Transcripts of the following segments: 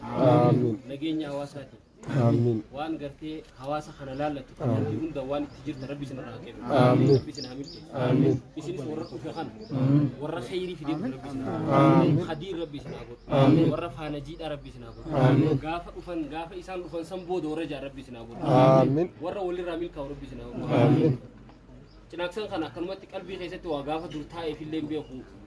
Aamiin. nageenya hawaasaati. Aamiin. Waan gartee hawaasa kana laallatu kallattii hunda waan itti jirta rabbi isin irraa kennu. Aamiin. Rabbi isin haa milkeessu. Aamiin. Isinis warra dhufe kana warra khayrii fidee dhufe rabbi isin haa godhu. Aamiin. Khadiir rabbi isin haa godhu. Aamiin. Warra faana jiidhaa rabbi isin haa godhu. Aamiin. Gaafa dhufan gaafa isaan dhufan san booda warra jaan rabbi isin haa godhu. Aamiin. Warra walirraa milkaa'u rabbi isin haa godhu. Aamiin. Cinaaksan kana akkanumatti qalbii keessatti waa gaafa dur taa'eef illee hin beeku.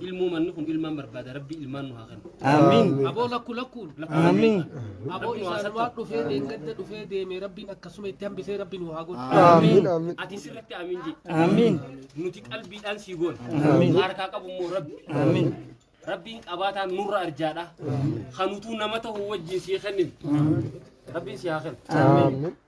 ilmoo manni kun ilmaan barbaada rabbii ilmaan nu haa kennu. Amiin. Aboo lakku lakku Amiin. aboo isaan waan dhufee deeggadda dhufee deemee rabbiin akkasuma itti hambisee rabbiin nu haa godhu. Amiin. Ati sirriitti amiin jedhi. Amiin. Nuti qalbiidhaan sii goona. Amiin. Harkaa qabu immoo rabbi. Amiin. Rabbiin qabaataan nurra arjaadha. Kanutuu nama ta'u wajjin sii kennin. Rabbiin sii haa kennu. Amiin.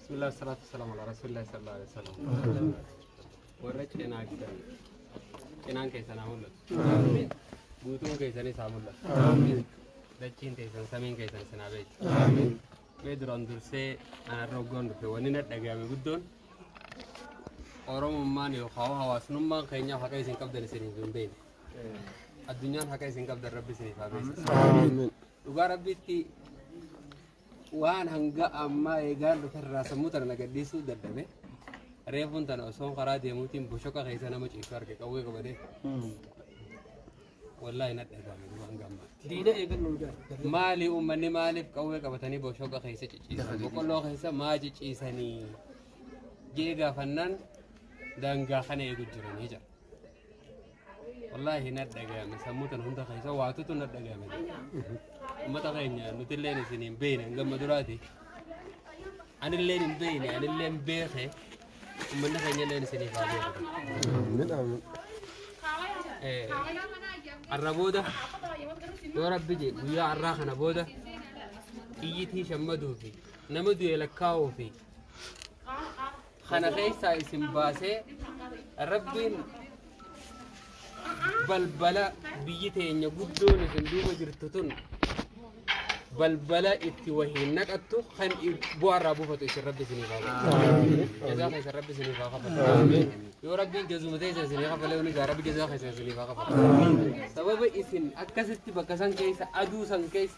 Bismillah salatu salam ala rasulillah sallallahu alaihi wasallam. Warra cinaa gidan cinaan keessan haa mul'atu. Guutuun keessanis haa mul'atu. Dachiin teessan samiin keessan isin haa beeku. Mee duraan dursee anarra hoggoon dhufe wanni na dhagahame guddoon Oromummaan yookaan hawaasnummaan keenya haqa isin qabdan isiniif hin beekne. Addunyaan haqa isin qabdan rabbi isiniif haa beeksisu. Dhugaa rabbiitti Waan hanga ammaa eegaan dhuferraa sammuu tana na gadhiisuu dadhabe. Reefuun tana osoon karaa deemuutiin boshoqa keessa nama ciisu arge qawwee qabate. Wallaahi na dhagahame duuba hanga ammaatti. Diina eegannu jira. Maali uummanni maaliif qawwee qabatanii boshoqa keessa ciciisan? Boqqolloo keessa maa ciciisanii? Jee gaafannaan daangaa kana eegu jiranii jira. Wallaahi na dhaga'ame sammuu tana hunda keessa waatutu na dhaga'ame. Uummata keenya nuti illee isin hin beekne hanga amma duraati. Ani illee hin beekne ani illee hin beekne uummanni keenya illee isiniif haa beeku. Har'a booda yoo rabbi jedhe guyyaa har'aa kana booda xiyyitii shammaduu fi nama du'e lakkaa'uu fi kana keessaa isin baasee rabbiin balbala biyyi teenya guddoon isin duuba jirtu tun balbala itti wahiin naqattu kan bu'aarraa buufatu isin rabbi isiniif haa godhu. Jazaa keessan rabbi isiniif haa kafalu. Yoo rabbiin jazuma ta'e isin haa kafalee hundi isaa rabbi jazaa keessan isiniif haa kafalu. Sababa isin akkasitti bakka san keessa aduu san keessa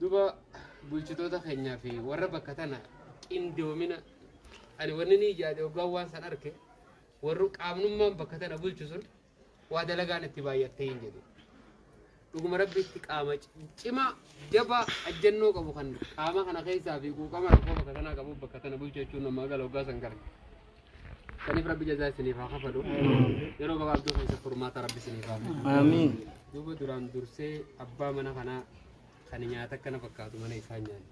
Duba bulchitoota keenyaa fi warra bakka tana qindoomina ani wanni ni yaade hoggaan waan san arke warru qaamnummaan bakka tana bulchu sun waa dalagaan itti baay'attee hin jedhu. Dhuguma rabbi itti qaama cimaa jabaa ajjannoo qabu kan qaama kana keessaa fi quuqama rakkoo bakka tanaa qabu bakka tana bulchu jechuun namaa gala hoggaa san gara. Saniif rabbi jazaa isiniif haa kafalu. Yeroo gabaabduu keessa furmaata rabbi isiniif haa fidu. Aamiin. Duuba duraan dursee abbaa mana kanaa kan nyaata akkana fakkaatu mana isaa nyaanne.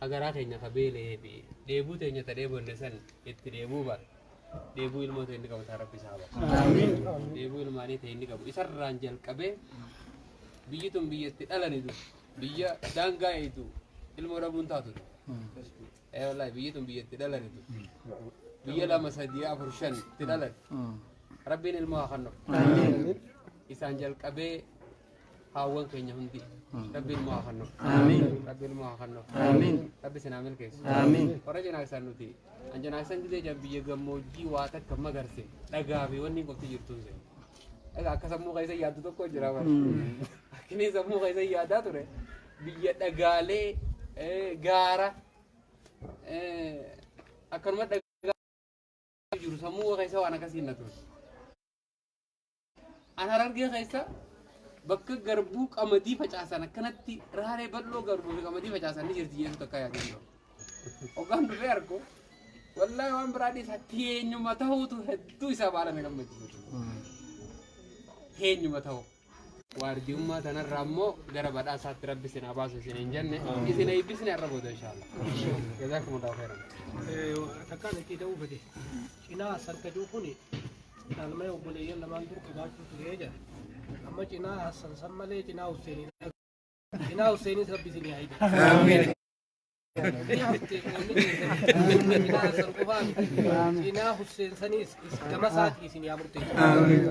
Agaraa keenya ka beela'ee fi dheebuu teenya ta dheebonne san itti dheebuu baate. Dheebuu ilmoo ta'e inni qabu taa rabbi isaa baate. Dheebuu ilmaanii ta'e inni qabu isarraan jalqabee biyyi tun biyya itti dhalani du biyya daangaa eeydu ilmoo dhabuun taatu du. Ee wallahi biyyi tun biyya itti dhalani tun. Biyya lama sadii afur shan itti dhalani. Rabbiin ilmoo haa kennu. Isaan jalqabee haawwan keenya hundi. Rabbiin ilmoo haa kennu. Rabbiin ilmoo haa kennu. Rabbi isin haa milkeessu. Warra janaaksan nuti. An janaaksan gidee jaan biyya gammoojjii waa takka magarse dhagaa fi wanni qofti jirtuun seenu. Dhagaa akka sammuu keessa yaaddu tokko jira bara. Akkinii sammuu keessa yaadaa ture. biyya dhagaalee gaara akkanuma dhagaa jiru sammuu keessa waan akkasii na ture. An harargee keessa bakka garbuu qamadii facaasan akkanatti raaree bal'oo garbuu fi qamadii facaasan ni jirti jechuudha akka yaadee jiru. Hoggaan dhufee argu wallaahi waan biraa dhiisa teenyuma ta'uutu hedduu isaa baala na gammachiisu. Teenyuma ta'uu. waardiyummaa tanarraa immoo gara badhaasaatti rabbi isin haa baasu isin hin jenne isin eebbisne har'a booda inshaalla jazaakumullaahu khairan takkaan itti ta'uu fedhe cinaa saddaduu kun dhaalmee obboleeyyan lamaan dur qabaachuu turee jedha amma cinaa hassan san malee cinaa husseenii Inaa Hussenis Rabbi isin yaa hiiku. Amiin. Inaa Hussein qoonni keessan. Inaa Hassan qofaa miti. Inaa Hussein sanis is- gama isaatii isin yaa murteessu. Amiin.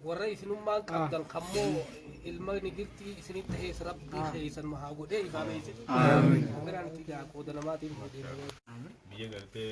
Warra isinummaan qabdan kammoo ilma nigirtii isinitti ta'es Rabbi keessan nu haa godhee ifaamee isin. Amiin. Biraan itti gaa qooda namaatiin godhee. biyya gartee